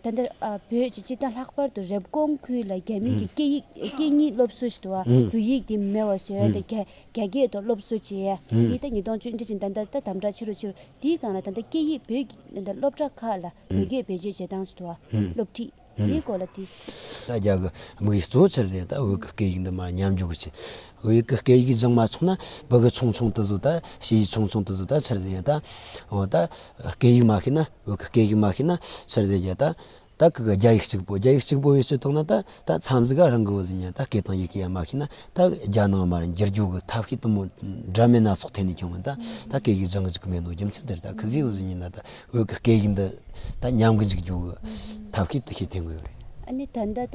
ད་ལྟ་བོད་ཀྱི་སྤྱི་དང་ལྷག་པར་དུ་རེབ་གོང་ཁུལ་ལ་རྒྱ་མིའི་སྐད་གཉིས་སློབ་གསོ་ཞེས་པ་བོད་ཡིག་དེ་མེད་བ་བཟོས་ཏེ་རྒྱ་སྐད་ཐོག་སློབ་གསོ་བྱས། དེའི་སྟེང་ཉིས་སྟོང་བཅུ་བདུན་ཕྱིན་ད་ལྟ་ད་དམ་དྲག་ཆེ་རུ་ཆེ་རུ་དེའི་སྒང་ལ་ད་ལྟ་སྐད་ཡིག་བོད་ཀྱི་སློབ་གྲྭ་ཁག་ལ་བོད་སྐད་བེད་སྤྱོད་བྱེད་སྟངས་དང་སློབ་ཁྲིད་དེའི་སྐོར་ལ་དེ། ད་རྒྱ་གི་མིག་གིས་གཙོ་ཆེར་ལས་ད་བོད་ཀྱི་སྐད་ཡིག་འདི་མ་ཉམས་འཇུག་གི་ཆེད། བོད་ཡིག་གི་སྐད་ཡིག་སྦྱང་མ་ཆོག་ན་བོད་ཀྱི་ཆུང་ཆུང་དེ་ཚོ་ད་ཕྱི་ཡི་ཆུང་ཆུང་དེ་ཚོ་ད་ཕྱིར་ཟད་ཡ་ད། འོ་ད་སྐད་ཡིག་མ་ཤེས་ན་བོད་ཀྱི་སྐད་ཡིག་མ་ཤེས་ན་ཕྱིར་ཟད་ཡ་ད། ད་གི་གི་རྒྱ་ཡིག་གཅིག་པོ་རྒྱ་ཡིག་གཅིག་པོ་ཡོད་ཚུལ་མཐོང་ན་ད་ད་མཚམས་འཛི་ག་རང་གི་འོ་ཟི་ཉན་ད་སྐད་དང་ཡི་གེ་ཡ་མ་ཤེས་ན་ད་རྒྱ་ནང་མར་འགྱུར་རྒྱུ་གི་ཐབས་ཤེས་དུ་མོ་འདྲ་མིན་སྣ་ཚོགས་ཐད་ནས་བྱུང་བ་ད་ད་སྐད་ཡིག་སྦྱང་གི་འཇུག་གི་མེད་འདུག་རྒྱུ་མཚན་དེར་ད་གི་ཟི་འོ་ཟི་ཉན་ན་ད་བོད་ཀྱི་སྐད་ཡིག་འདི་ད་ཉམས་གི་འཇུག་རྒྱུ་གི་ཐབས་ཤེས་དུ་ཤེས་ཐེངས་དགོས་རེད། ཨ་ནི་ད་ད་ད་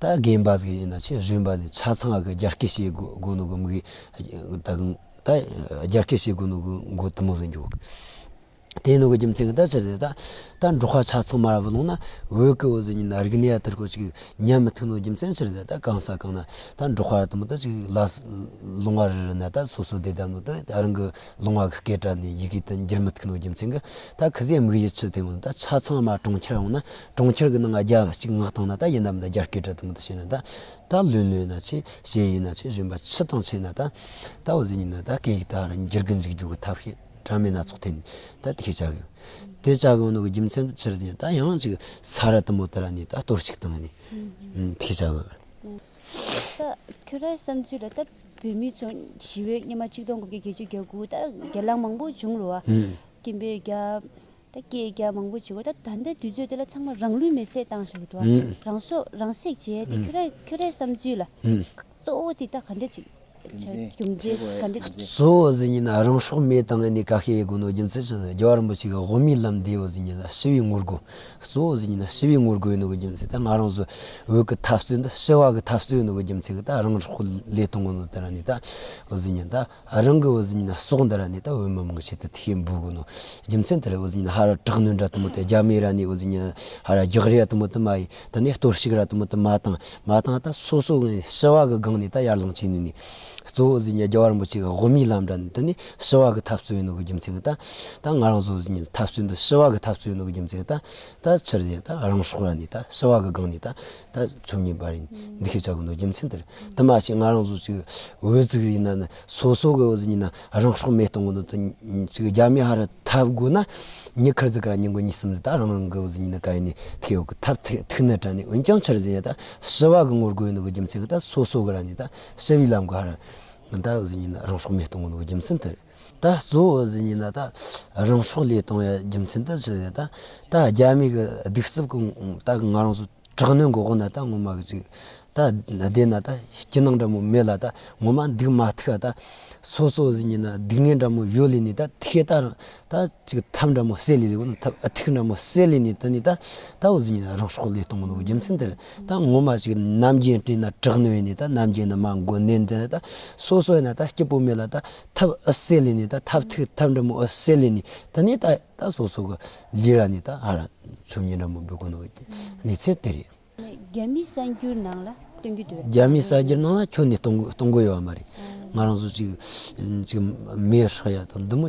ད་གིན་བ་ཟིག་ཡིན་ན་ཆེས་རིམ་པ་ནས་ཆ་ཚང་གི་རྒྱ་སྐད་བཤད་དགོས་ནུ་གི་མི་གིས་ད་གིན་ད་རྒྱ་སྐད་བཤད་དགོས་ནུ་གི་མགོ་དུ་མ་ཟིག་འགྱོག་གི། དེ་ནུ་གི་རྒྱུ་མཚན་གི་ད་ཆ་ཟིག་ད་ད་འབྲོག་ཁ་ཆ་ཚང་མ་ར་བ་ལུང་ན་འོད་ཀི་འོད་ཟིག་ཡིན་ན་རིག་གནས་ཡ་ཐུར་ཁུར་ཅིག་ཉན་མི་ཐུག་ནུ་རྒྱུ་མཚན་ཕྱིར་ཟིག་ད་གང་ས་གང་ན་ད་འབྲོག་ཁ་ར་དུ་མ་ད་ཅིག་ལ་ལུང་བ་རི་རི་ན་ད་སོ་སོ་བསྡད་ད་ནུ་ད་རང་གི་ལུང་བ་གི་སྐད་སྒྲ་ནི་ཡི་གེ་ད་འགྱུར་མི་ཐུག་ནུ་རྒྱུ་མཚན་གི་ད་གི་ཟིག་མི་གིས་ཡི་ཆུ་དེ་ཡོང་ན་ད་ཆ་ཚང་མ་གྲོང་ཁྱེར་ཡོང་ན་གྲོང་ཁྱེར་གྱི་ནང་རྒྱ་གཅིག་ངག་དང་ན་ད་ཡིན་ནམ་ད་རྒྱ་སྐད་གྲགས་དང་མི་ད་བྱས་ན་ད་ད་ལོས་ལོས་ན་ཆེ་ཞེས་ཡིན་ན་ཆེ་གཞོན་པ་ཆི་དང་ཆེས་ན་ད་ད་འོ་ཟི་ཉིན་ན་ད་སྐད་ཡིག་དག་རང་རྒྱལ་གྱི་འཛིགས་རྒྱུ་གི་ཐབས་ཤེས་གྲ་མེད་སྣ་ཚོགས་ཐད་ནས་ད་དེ་ཤེས་བྱ་གི་ཡོད། དེ་བྱ་གི་འོ་ན་གི་རྒྱུ་མཚན་དུ་ཕྱིར་དེ་ད་ཡང་ཅིག་ས་ར་དུམ་བུ་དེ་ར་ནས་ད་གཏོར་ཅིག་བཏང་ནས་དེ་ཤེས་བྱ་གི་ཡོད། ད་ཁྱོད་རའི་བསམ་ཚུལ་ལ་ད་བོད་མི་ཚོ་ཞི་བའི་སྙེ་མ་གཅིག་སྟོང་དགུ་བརྒྱ་བརྒྱད་ཅུ་བརྒྱ་དགུ་བརྒྱ་ལ་མང་པོ་བྱུང་རུ་བ་ཀྱིན་པའི་རྒྱ་ད་སྐད་རྒྱག་མང་པོ་བྱེད་དགོས་ད་ད་ལྟའི་དུས་ཚོད་འདི་ལ་ཚང་མ་རང་ལུས་མེར་སྲེག་བཏང་ཞེས་འདུག་རང་སྲོག་རང་སྲེག་བྱས་ཏེ་ཁྱོད་རང་ཁྱོད་རའི་བསམ་ཚུལ་ལ་གཙོ་བོ་དེ་དག་ག་འདྲ་ཅིག་རྒྱུ་མཚན་ག་འདྲ་ཅིག། གཙོ་བོ་ཟེར་ཉིན་ན་རང་སྲོག་མེ་བཏང་ནས་ག་ཤེད་ཡོད་དགོས་ནོ་རྒྱུ་མཚན་ཅི་ན་རྒྱལ་བ་རིན་པོ་ཆེ་གི་དབུ་མའི་ལམ་འདི་ཡོད་ཟེར་ཉིན་ན་ཞི་བའི་ངོ་རྒོལ་གཙོ་བོ་ཟེར་ཉིན་ན་ཞི་བའི་ངོ་རྒོལ་ཡོད་ནོ་གི་རྒྱུ་མཚན་ད་ང་རང་ཚོའི་འོས་ཀི་འཐབ་རྩོད་འདི་ཞི་བ་གི་འཐབ་རྩོད་ཡོད་ནོ་གི་རྒྱུ་མཚན་གི་ད་རང་སྲོག་ལས་གཏོང་གི་ནོ་དེ་ར་ནི་ད་ཟེར་ཉིན་ད། རང་གི་འོད་ཟེར་ཉིད་ལ་སོགས་འདི་ར་ནི་དང་འོད་མ་མང་ཆེད་དུ་ཐིག་ཡེ་འབུལ་དགོས་ནོ། རྒྱུ་མཚན་དེ་ར་འོད་ཟེར་ཉིད་ལ་ཧ་ར་དྲག་གནོན་ར་དུ་མ་དང་རྒྱ་མའི་ར་ནི་འོད་ཟེར་ཉིད་ལ་ཧ་ར་རྒྱག་རེ་ར་དུ་མ་དང་མ་ཡི་དང་ནི་གཏོར་བཤིག་ར་དུ་མ་དང་མ་དང་མ་དང་དང་སོ་སོ་ནི་ཞི་བ་གི་སྒང་ནི་དང་ཡར་ལངས་བྱེད་ནི་ནི། གཙོ་བོ་འོད་ཟེར་ཉིད་རྒྱ་བར་འབུལ་བྱེད་ཀྱི་དབུ་མའི་ལམ་ར་ནི་དང་ནི་ཞི་བ་གི་ཐབས་རྩོད་ཡིན་ནོ་གི་རྒྱུ་མཚན་དང། དང་ང་རང་སོགས་འོད་ཟེར་ཉིད་ལ་ཐབས་རྩོད་འདི་ཞི་བ་གི་ཐབས་རྩོད་ཡིན་ནོ་གི་རྒྱུ་མཚན་དང། དང་ཕྱིར་དེ་དང་རང་སྲོག་ར་ནི་དང་ཞི་བ་གི་སྒང་ནི་དང་ད་ཚོད་ངེས་པར་ཡིན་འདི་ཤེས་བྱ་གི་འདུག་རྒྱུ་མཚན་དེར་དུ་མ་ཞིག་ང་རང་ཚོ་ཅིག་འོས་བཙུགས་ཡིན་ན་ནི་སོ་སོ་གི་འོས་བཙུགས་ཡིན་ན་རང་སྲོག་མེད་གཏོང་གི་འདུག་ཅིག་རྒྱ་མི་ཧ་ར་ཐབས་དགོས་ན་ཉི་ཁར་ཙི་ཀ་ར་ཉིན་གོ་ཉིན་གསུམ་ད་རང་རང་གི་འོས་བཙུགས་ཡིན་ན་ག་ཡིན་ནི་ཐིག་ཡོག་གི་ཐབས་ཐིག་ཐིག་ནི་དྲ་ནི་འོན་ཀྱང་ཆར་ཟིན་ཡང་ད་ཞི་བ་གི་ངོ་རྒོལ་ཡིན་འདུག་གི་རྒྱུ་མཚན་གི་ད་སོ་སོ་གི་ར་ནི་ད་ཞི་བའི་ལམ་གི་ཧ་ར་ད་འོས་བཙུགས་ཡིན་ན་རང་སྲོག་མེད་གཏོང་གི་འདུག་གི་རྒྱུ་མཚན་དེར། ད་གཙོ་བོ་ཟེར་ཉིན་ན་ད་རང་ཕྱོགས་ལས་དང་ཡང་རྒྱུ་མཚན་ད་ཅི་ཟེར་ད་རྒྱ་མི་གི་སྡིག་རྩུབ་ཀུན་ད་ང་རང་ཚོ་དྲག་གནོན་འགོག་དགོས་ན་ད་ངོ་མ་གི་ཅིག་ད་བསྡད་ན་ད་སྐྱིད་སྣང་འདྲ་མོ་མེད་ལ་ད་ངོ་མ་སྡིག་མ་ཐུག་ཡ་ད་སོ་སོ་ཟེར་ཉིན་ན་སྡིག་ངན་འདྲ་མོ་ཡོད་ལེ་ནི་ད་དེ་ཤེད་ད་རང་ད་ཅིག་ཐབས་འདྲ་མོ་བསད་ལེ་ཟེར་གོ་ཐབས་ཐིག་འདྲ་མོ་བསད་ལེ་ནི་ད་ནི་ད་ད་བོ་ཟེར་ཉིན་ན་རང་ཕྱོགས་ལས་གཏོང་གི་འདུག་རྒྱུ་མཚན་དེར་ད་ངོ་མ་ཞིག་རྣམ་རྒྱལ་སྤྲིན་ན་གྲགས་ནོན་ནས་ད་རྣམ་རྒྱལ་ནི་མ་མགོན་ནས་འདི་ད་སོ་སོ་ན་ད་སྐྱེ་བོ་མི་ལ་ད་ཐབས་ཨི་སེ་ལི་ནི་ད་ཐབས་ཐིག་ཐབས་འདྲ་མོ་ཨི་སེ་ལི་ནི་ད་ནི་ད་ད་སོ་སོ་གི་ལི་ར་ནི་ད་ཨ་ར་ཚུ་མྱི་འདྲ་མོ་འབུ་གོ་ནོ་གི་གནས་ཚད་དེ་རེད། རྒྱ་མི་གསར་འགྱུར་ནང་ལ་སྟོན་གྱི་འདུག་རྒྱ་མི་གསར་འགྱུར་ནང་ལ་ཁྱོད་ནི་གཏོང་གི་གཏོང་གི་ཡོད་མ་རེད། ང་རང་ཚོ་ཅིག་ཅིག་མེད་ཧྲག་ཡ་དང་འདི་མོ།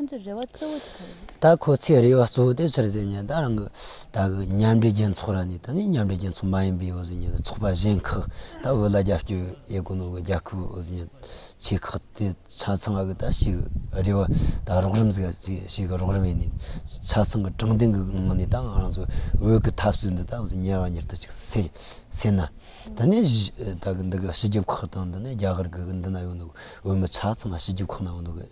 ཁོ་ཚོའི་རེ་བ་གཙོ་བོ་དེ་ག་རེད། ད་ཁོ་ཚོའི་རེ་བ་གཙོ་བོ་དེ་ཕྱིར་འཛིན་ཉིན་ད་རང་གི་ད་གི་མཉམ་འབྲེལ་རྒྱལ་ཚོགས་ར་ནས་ད་ནི་མཉམ་འབྲེལ་རྒྱལ་ཚོགས་མ་ཡིན་པའི་འོ་ཟི་ཉིན་ད་ཚོགས་པ་གཞན་ཁག་ད་འོས་ལ་རྒྱབ་སྐྱོར་ཡས་དགོས་ནོ་གི་རྒྱ་ཁུ་འོ་ཟི་ཉིན་ཆེ་ཁག་དེ་ཆ་ཚང་བ་གི་ད་ཞིག་གི་རེ་བ་ད་རོགས་རིམ་ཟེར་ཅིག་ཞིག་གི་རོགས་རིམ་ཡིན་ནིན་ཆ་ཚང་གི་དྲང་བདེན་གི་ངང་ནས་ད་ང་རང་ཚོ་འོས་གི་ཐབས་སུ་འདི་ད་འོ་ཟི་ཉེར་བ་ཉེར་ད་ཅིག་སེ་སེ་ན་ད་ནི་ད་གི་འདི་གི་སྤྱི་ཁྱབ་ཁག་དང་ད་ནི་རྒྱ་གར་གི་གི་འདི་ན་ཡོད་ནོ་གི་འོས་མི་ཆ་ཚང་བ་སྤྱི་ཁྱབ་ཁག་ན་འོ་ནོ་གི།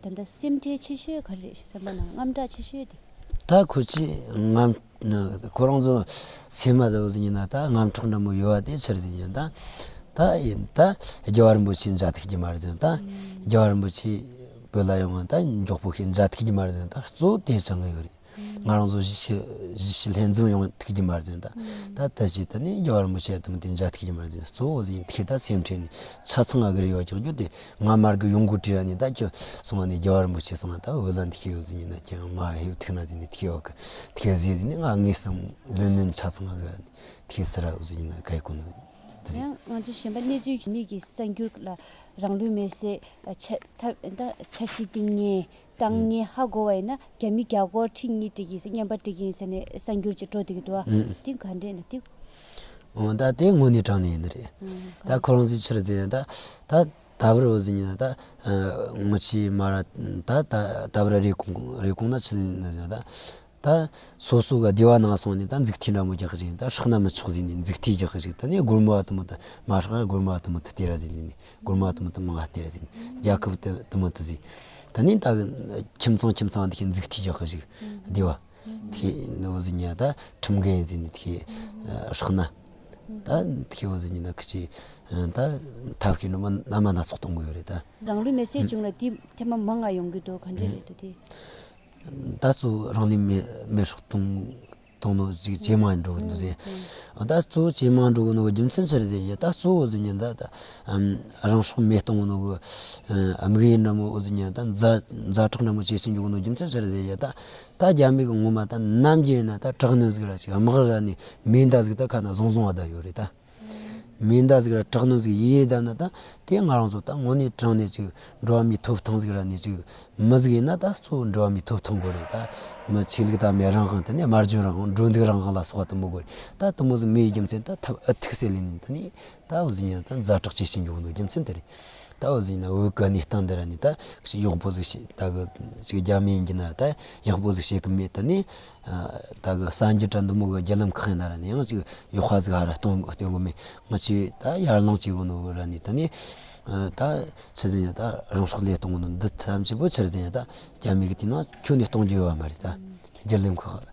ད་ལྟ་སེམས་ཁྲལ་ཆེ་ཤོས་ག་རེ་རེད་ཞེས་སེམས་པ་ནང་དངངས་སྐྲག་ཆེ་ཤོས་དེ། ད་ཁོ་ཚོས་ང། ཁོ་རང་ཚོ་ཚད་མ་དང་ཡིན་ན་ད་དངངས་སྐྲག་འདྲ་མོ་ཡོད་དེ་ཕྱིར་དེ་ཡིན་ད། ད་ཡིན་ད་རྒྱལ་བ་རིན་པོ་ཆེའི་འཇའ་ཐིག་གི་མ་རེད་དེ་ད། རྒྱལ་བ་རིན་པོ་ཆེ་བོད་ལ་ཡོང་ང་ད་མགྱོགས་པོ་ཤིག་འཇའ་ཐིག་གི་མ་རེད་དེ་ད་གཙོ་བོ་དེ་བྱ་ངོས་ཡོད་རེད། ང་རང་ཚོ་གཞིས་བྱེས་ལྷན་འཛོམས་ཡོང་ཐུགས་ཀྱི་མར་འཛིན། ད་ལྟ་ཅི་ལྟར་ནས་རྒྱ་གར་མི་ཆེ་གེ་མོ་དེ་འཇའ་ཐུགས་ཀྱི་མར་འཛིན་གཙོ་བོ་ལས་འཐད་ད་སེམས་ཁྲལ་ནི་ཆ་ཚང་ང་གི་རེད་བ་ཀྱང་རྒྱུ་དེ་ང་མར་གི་ཡོང་གུ་དྲི་ར་ནི་ད་ཁྱོད་སོང་བ་ནི་རྒྱ་གར་མི་ཆེ་སོང་བ་ད་འོད་ལ་འདི་ཁྱོད་ཡོད་ཟིན་ཡིན་ན་ཁྱོད་རང་མ་ཧེ་ཐུགས་ན་ཟིན་ནི་ཐིག་ཡོག་གི་ཐིག་ཟིན་ཟིན་ནི་ང་ངའི་སེམས་ལོན་ལོན་ཆ་ཚང་ང་གི་ར་ནི་ཐིག་ཟེར་ར་ཟིན་ཡིན་ན་ག་ཡི་གོ་ནི་འདི་ཡང་ང་ཚོ་གཞན་པ་གནས་ཚུལ་མིག་གི་གསར་འགྱུར་ལ་རང་ལུས་མེར་སྲེག་ཆ་ཤི་སྟེང་ཉེ་དང་ངས་ཧ་གོ་བ་ཡིན་ན་རྒྱ་མི་རྒྱ་སྒོར་ཁྲི་གཉིས་སྤྲད་ཀྱིན་སོང་སྙམ་པ་སྤྲད་ཀྱིན་སོང་ནས་གསར་འགྱུར་གྱི་དྲོ་དེ་གི་འདུག་ཨ་དེ་ག་འདྲས་ན་ཐིག། འོན་ད་དེ་དངོས་གནས་དྲང་གནས་ཡིན་ནི་རེད། ད་ཁོ་རང་ཚོའི་ཕྱིར་དེ་ད་ད་ད་བར་འོ་ཟི་ཉིན་ད་ངོ་ཆེ་མ་ར་ད་ད་ད་བར་རེ་གོང་རེ་གོང་ད་ཕྱི་ན་ད། ད། སོ་སོ་ག་བདེ་བ་ནང་སོང་ནས་ད་འཛུགས་ཐིག་འདྲ་མོ་རྒྱག་གི་ཅིག་ད་ཧྲག་ན་མི་ཆོག་ཟིག་ནས་འཛུགས་ཐིག་རྒྱག་གི་ཅིག་ད་ནས་སྒོར་མོ་བ་དུ་མོ་ད་མ་ཧྲག་ཡ་སྒོར་མོ་བ་དུ་མོ་ད་སྟེར་ར་ཟིག་ནས་ནས་སྒོར་མོ་བ་དུ་མོ་ད་མ་ང་སྟེར་ར་ཟིག་ནས་རྒྱ་ཁབ་ད་དུ་མོ་ད་ཟིག་ད་ནས་ད་གི་ཁྱིམ་ཚང་ཁྱིམ་ཚང་ད་ཤེད་འཛུགས་ཐིག་རྒྱག་གི་ཅིག་བདེ་བ་ད་ཤེད་ནོ་ཟིག་ནས་ད་ཁྲིམས་འགལ་ཡིན་ཟིག་ནས་ད་ཤེད་ཧྲག་ན་ད་ད་ཤེད་ཨོ་ཟིག་ནས་ད་ཁི་ཅིག་ད་ཐབས་ཤེས་ནོ་མ་ན་མ་སྣ་ཚོགས་གཏོང་གི་ཡོད་རེད་ད། རང་ལུས་མེ་བསྲེགས་བྱུང་ལ་དེའི་ཐད་མ་མ་ང་ཡོང་གི་འདུག་ག་འདྲས་རེད་འདུག་དེ། ད་གཙོ་བོ་རང་ནུས་མེད་སོགས་གཏོང་ནོ་ཅེས་ཇེ་མང་དུ་འགྲོ་གི་འདུག་ད་གཙོ་བོ་ཇེ་མང་དུ་འགྲོ་གི་འདུག་རྒྱུ་མཚན་ཅི་རེད་ཟེར་ན་ད་གཙོ་བོ་ཟེར་ན་ད་ལྟ་རང་སྲོག་མེད་གཏོང་གི་འདུག་དམིགས་ཡུལ་ནམ་འོ་ཟེར་ན་ད་མཛའ་གྲོགས་ནང་མ་བྱེད་ཟིན་འགྱུར་གི་འདུག་རྒྱུ་མཚན་ཅི་རེད་ཟེར་ན་ད་ད་རྒྱ་མིག་གི་ངོ་མ་ད་ནམ་རྒྱུན་ན་ད་དྲག་གནོན་ཟིག་ར་ཅིག་དམག་ར་ནས་མིའི་མདའ་ཟིག་ད་ཁ་ན་བཟུང་བཟུང་བ་ད་ཡོད་རེད་ད། མིན་ད་ཟིག་ར་དྲག་ནོ་ཟིག་ཡེ་ཡེ་དཱ་ན་ད། དེ་ང་རང་ཚོ་ད་ངོ་ནས་དྲང་ནས་ཅིག་འགྲོ་བ་མི་ཐུབ་ཐང་ཟིག་ར་ནས་ཅིག་མི་ཟིག་ཡིན་ན་ད་གཙོ་བོ་འགྲོ་བ་མི་ཐུབ་ཐང་དགོས་རེད་ད། མི་ཆོས་ལུགས་དང་མེ་རང་དབང་དེ་ནས་དམར་འབྱོན་རང་དབང་འགྲོ་འདུག་རང་དབང་ལ་སོགས་དུ་མོ་དགོས་རེད་ད་དུ་མོ་ཟིག་མི་ཡི་རྒྱུ་མཚན་ད་ཐབས་ཨི་ཐུག་སེ་ལེ་ནི་ད་ནི་ད་འུ་ཟིག་ཡིན་ན་ད་མཛའ་གྲགས་ཇི་བྱེད་མགྱོགས་འདུག་རྒྱུ་མཚན་དེ་རེད་ད་འུ་ཟིག་ཡིན་ན་འུ་གི་གནས་སྟངས་འདི་ར་ནི་ད་གཞི་གཡོག་པོ་ཟིག་བྱེད་ད་གི་ཅིག་རྒྱ་མི་ཡིན་གྱི་ན་ར་ད་གཡག་པོ་ཟིག་བྱེད་གི་མེད་ད་ནི་བདག་གི་སངས་རྒྱས་བཀྲ་འདུལ་མོ་གི་རྒྱལ་ལམ་ཁག་ཡིན་ད་ར་ནི་ཡང་ཅིག་ཡོ་ཁ་ཟིག་ཧ་ར་སྟོན་སྟོན་གོ་མེད་ང་ཆོས་ད་ཡར་ལངས་བྱེད་གོ་ནོ་ར་ནི་ད་ནི་ད་ཕྱི་ཟིན་ཡང་ད་རང་སྲོག་སླད་གཏོང་གོ་ནོ་འདི་ཐམས་ཅད་པོ་ཕྱིར་དེ་ཡང་ད་རྒྱ་མི་གི་དེ་ན་ཁྱོད་ནི་གཏོང་རྒྱུ་ཡོད་བ་མ་རེད་ད་རྒྱལ་ལེམ་ཁག